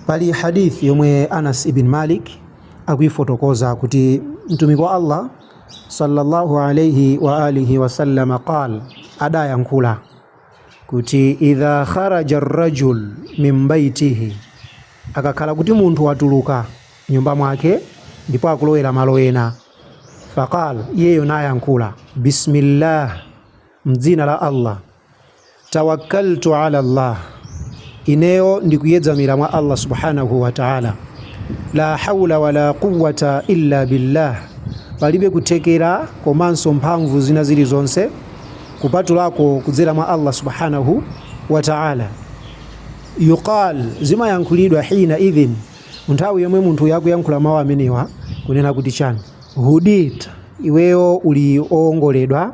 Pali Hadith yomwe Anas ibn Malik akuifotokoza kuti Mtumiki wa Allah sallallahu alayhi wa alihi wasallam qal, adayankhula kuti idha kharaja rajul min baitihi, akakhala kuti munthu watuluka mnyumba mwake ndipo akulowera malo ena, faqal, iyeyo nayankhula bismillah Mdzina la Allah, tawakkaltu ala Allah, ineyo ndikuyedzamira mwa Allah subhanahu wa ta'ala. La hawla wala quwwata illa billah, palibe kuthekera komanso mphamvu zina zilizonse kupatulako kudzera mwa Allah subhanahu wa ta'ala. Yuqal, zimayankhulidwa hina idhin, nthawi yomwe munthuyo akuyankhula mawu amenewa kunena kuti chani? Hudit, iweyo uli oongoledwa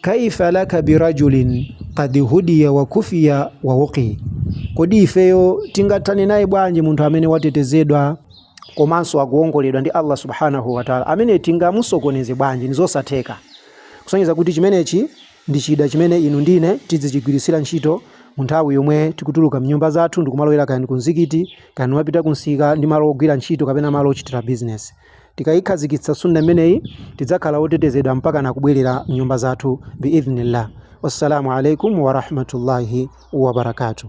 kaifa laka birajulin qad hudiya wa kufiya wa wuqi kodi ifeyo tingathane naye bwanji munthu amene watetezedwa komanso akuongoledwa ndi allah subhanahu wataala amene tingamusokoneze bwanji nizosatheka kusonyeza kuti chimenechi ndi chida chimene inu ndine tizichigwiritsira ntchito mu nthawi yomwe tikutuluka mnyumba zathu ndikumalowera kaya ku mzikiti kaya kumapita ku msika ndi malo ogwira ntchito kapena malo ochitira bizinesi Tikaikhazikitsa Sunnah imeneyi tidzakhala otetezedwa mpakana kubwerera mnyumba zathu biidhnillah. Wassalamu alaikum wa rahmatullahi wa barakatuh.